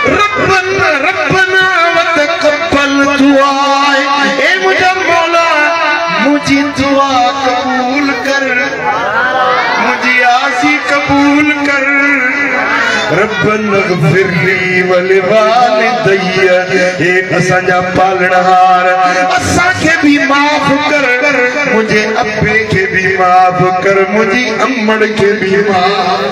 ربنا ربنا وتقبل دعا اي منهنجا مولا منهنجي دعا قبول ڪر منهنجي آسي قبول ڪر ربنا اغفر لي ولوالدي اي اسان جا پالڻهار اسان کي به معاف ڪر منهنجي ابي کي به معاف ڪر منهنجي امڙ کي به معاف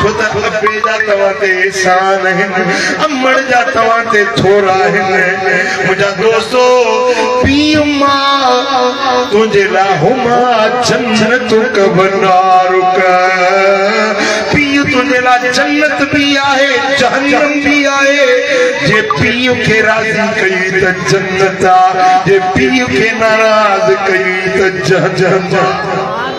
ڇو ته ابي جا توهان تي احسان آهن امڙ جا توهان تي ٿورا آهن منهنجا دوستو پي اما تنهنجي لاء هما جنت ڪبنار ڪا پي تنهنجي لاء جنت به آهي جهنم به آهي جي پي کي راضي ڪئي ته جنت آ جي پي کي ناراض ڪئي ته جهنم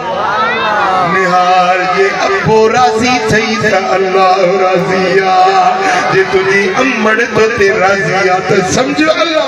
نهار جي ابو راضي ٿئي ته الله راضي آ جي تنهنجي امڙ توتي راضي آ ته سمجهه الله